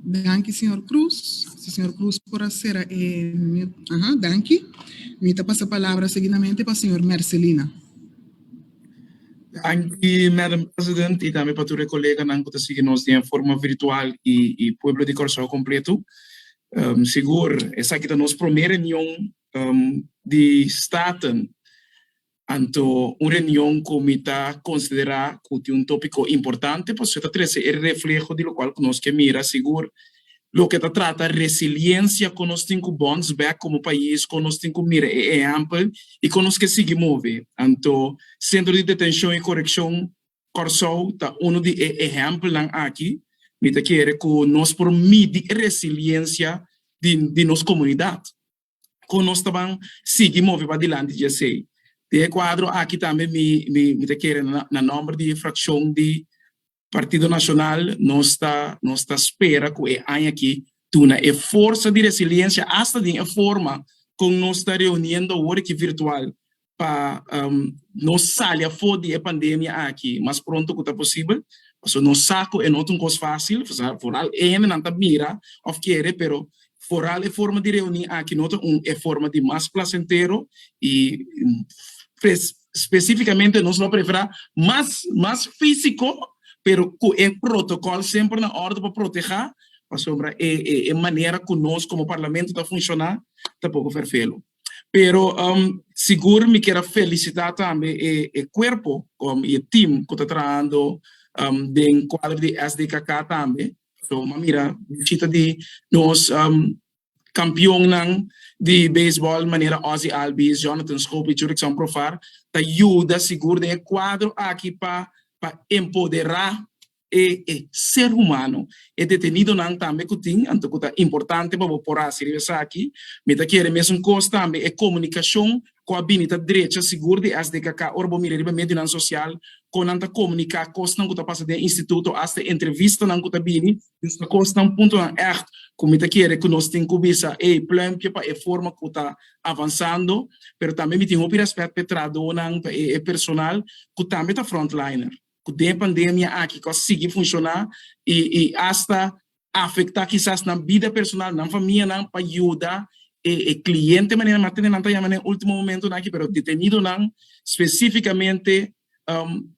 Danki señor Cruz. Si señor Cruz por a sera e mute. Aha, danki. Mi ta pasa palabra seguidamente pa señor Mercelina. Danki, Madam President, i tambe pa tur e koleganan ku ta sigui nos den forma virtual i i pueblo di Kòrsou kompletu. Sigur esaki ta nos promé reunion di Staten Anto un reunion cu mi ta considera cu tin un topico importante pasobra ta trece e refleho di locual cu nos ke mira sigur, loke ta trata resiliencia, con nos tin cu bounce back como pais, con nos tin cu mira e ehempel y con nos ke sigui move. Anto Centro di Detencion y Coreccion Corsou ta uno di e ehempelnan aki. Mi ta kere cu nos por midi e resiliencia di nos comunidad. con nos ta ban sigui move padilanti dje esey. Den e cuadro aki tambe mi mi ta kere na nomber di e fraccion di Partido Nacional nos ta nos ta spera cu e aña aki duna e forsa di resiliencia hasta den e forma con nos ta reuniendo awor aki virtual pa nos sali afó di e pandemia aki mas pronto ku ta posibel, pasobra nos sa ku e no ta un kos fásil, foral e hendenan ta mira òf kere, pero foral e forma di reuní aki no ta un e forma di mas plasentero i spesífikamente nos lo preferá mas mas físiko pero ku e protokòl semper na òrdu pa protehá, pasobra e manera ku nos komo parlamento ta funshoná ta poko ferfelu. Pero sigur mi kier a felisitá tambe e kuerpo i e tim ku ta trahando den kuadro di SDKK tambe, so m'a mira bishita di nos kampionnan di beisbòl manera Ozzie Albies, Jonathan Schoop i Jurickson Profar ta yuda sigur den e kuadro aki pa empoderá e e ser humano, e detenidonan tambe ku tin, anto ku ta importante pa bo por hasi riba esaki, mi ta kere mesun kos tambe e komunikashon ku a bini ta drecha sigur di SDKK ora bo mira riba medionan sosial kon nan ta komuniká kosnan ku ta pasa den instituto asta entrevistanan ku ta bini, dus ta kosnan puntonan ègt ku mi ta kere ku nos tin ku bisa e plèmpia pa e forma ku ta avansando, pero tambe mi tin hopi rèspèt pa e trahadonan, pa e e personal ku tambe ta frontliner. cu den e pandemia aki cu a sigui funciona y y hasta afecta kisas nan bida personal, nan famianan pa yuda e e cliente manera nan a tene nan ta yama na e ultimo momentonan aki pero detenidonan specificamente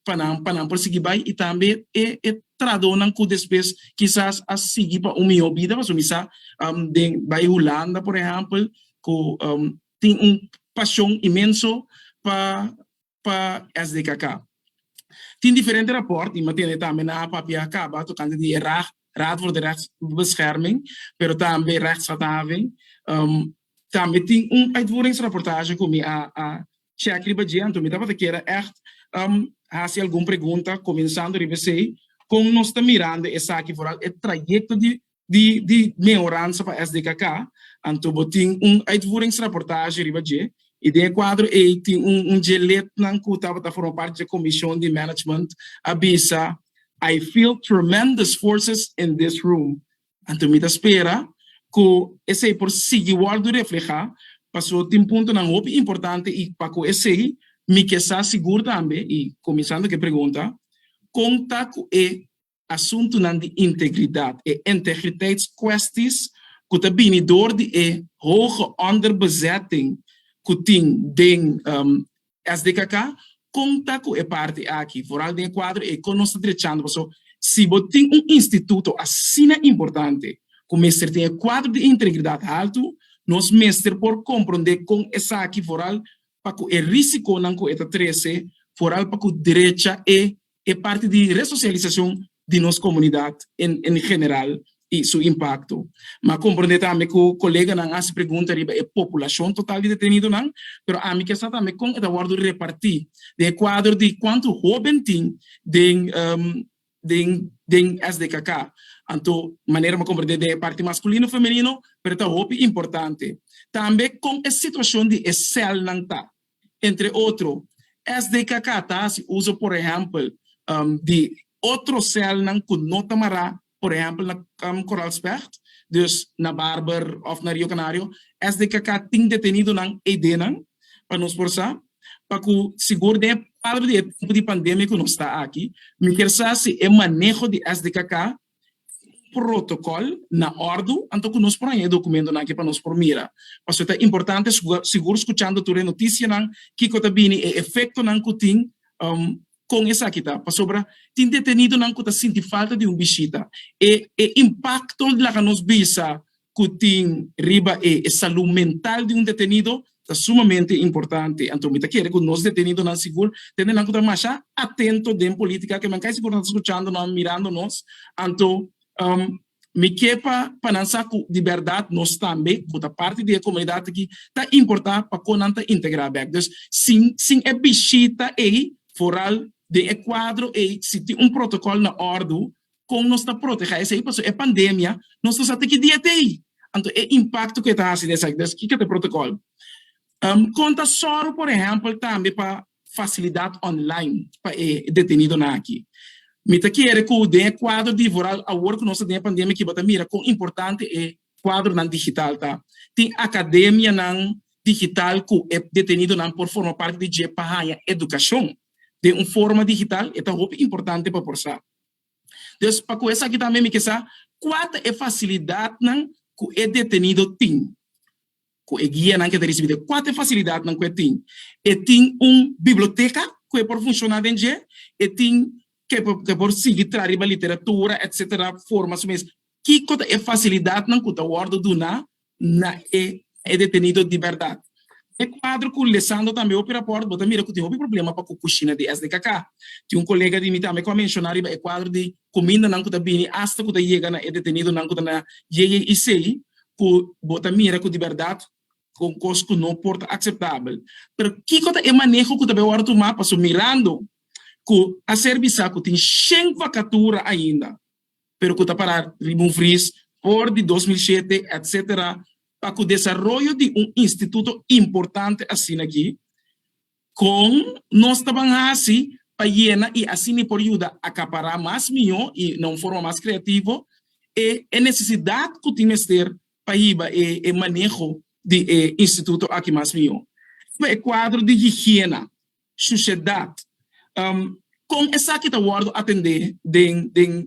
pa nan pa nan por sigui bay y tambe e e trahadonan cu despues kisas a sigui pa un miho bida pasobra mi sa den bay Hulanda por ehempel cu tin un pasion inmenso pa. pa SDKK. Tin diferente rapòrt, i matende tambe nan a papia kaba tokante di e RAG, Raad voor de Rechtsbescherming, pero tambe Rechtshandhaving. Tambe tin un uitvoeringsrapportage ku mi a chèk riba dje, anto mi tabata kere ègt hasi algun pregunta, kuminsando riba esei, kon nos ta mirando esaki, foral e trayekto di di di mehoransa pa SDKK, anto bo tin un uitvoeringsrapportage riba dje, i den e kuadro ei tin un un dje lidnan ku tabata forma parti di e komishon di management a bisa, I feel tremendous forces in this room, anto mi ta spera ku esei por sigui wòrdu reflehá, paso tin puntonan hopi importante i pa ku esei mi ke sa sigur tambe, i kuminsando ku e pregunta, kon ta ku e asuntunan di integridat, e integriteitskwesties ku ta bini dor di e hoge onderbezetting ku tin den SDKK, kon ta ku e parti aki, vooral den e kuadro e kon nos ta drechando. Paso si bo tin un instituto asina importante ku mester tin e kuadro di integridat haltu, nos mester por komprondé kon esaki, vooral pa ku e risikonan ku e ta trese, vooral pa ku drecha e e parti di resosialisacion di nos comunidad en general y su impacto. M'a comprende tambe cu coleganan a haci pregunta riba e populacion total di detenidonan, pero ami kier sa tambe con e ta wordo reparti den e cuadro di cuanto hoben tin den SDKK. Anto, manera m'a comprende den e parti masculino, femenino, pero ta hopi importante tambe con e situacion di e celnan ta. entre otro. SDKK ta hasi uso por ehèmpel di otro sèlnan ku no ta mará, por ehèmpel na Kamp Koraalspecht, dus na Barber òf na Rio Kanario. SDKK tin detenidonan eidenan pa nos por sa, pa ku sigur den e palbra di e tempu di pandemia ku nos ta aki. Mi kier sa si e maneho di SDKK protocol na ordu anto cu nos por haña e documentonan aki pa nos por mira. Pasobra ta importante sigur scuchando tur e noticianan kico ta bini, e efectonan cu tin, con esaki ta, pasobra tin detenidonan cu ta sinti falta di un bishita, e impacto laga nos bisa ku tin riba e salú mental di un detenido ta sumamente importante. Anto mi ta kere ku nos detenidonan sigur tende nan ku ta masha atento den polítika, ke nan kai sigur nan ta skuchando nan, mirando nos. Anto mi ke pa pa nan sa ku di bèrdat nos tambe ku ta parti di e komunidat aki ta importá pa kon nan ta integrá bèk. Dus sin sin e bishita ei foral den e kuadro ei si tin un protokòl na òrdu Kon nos ta protehá esei? Pasobra e pandemia nos no sa te ki dia ta e, anto e impakto ku e ta hasi den esaki. Entonces, kiko ta e protokòl? Kon ta sòru, por ehèmpel, tambe pa fasilidat online pa e detenidonan aki? Mi ta kere ku den e kuadro di Voral, awor ku nos ta den e pandemia aki, bo ta mira kon importante e kuadronan digital ta. Tin akademianan digital ku e detenidonan por forma parti di dje pa haña edukashon den un forma digital, e ta hopi importante pa por sa. Des pa ku esaki tambe mi ke sa kua ta e fasilidatnan ku e detenido tin, ku e guianan ke ta risibí dje. Kua ta e fasilidatnan ku e tin? E tin un biblioteka ku e por funshoná den dje, e tin ke e por sigui traha riba literatura, etcétera, forma su mes. Kiko ta e fasilidatnan ku ta wòrdu duna na e e detenido di berdad. E cuadro cu Lisandro tambe hopi raport, bo ta mira cu tin hopi problema pa cu cushina di SDKK. Tin un colega di mi tambe cu a menciona riba e cuadro di cumindanan cu ta bini hasta cu ta yega na e detenidonan cu ta na JJIC, cu bo ta mira cu di berdad ta un cos cu no por ta aceptabel. Pero kico ta e maneho cu ta bai worde tuma pasobra mirando cu a ser bisa cu tin shen vacatura ainda, pero cu ta para riba un fris for di dos mil shete etc. Pa cu desaroyo di un instituto importante asina aki, con nos ta ban haci pa yena y asina por yuda acapara mas mijo y na un forma mas creativo e e necesidad cu tin mester pa hiba e e maneho di e instituto aki mas mijo. Riba e cuadro di higiena, shuciedad, con esaki ta wordo atende den den.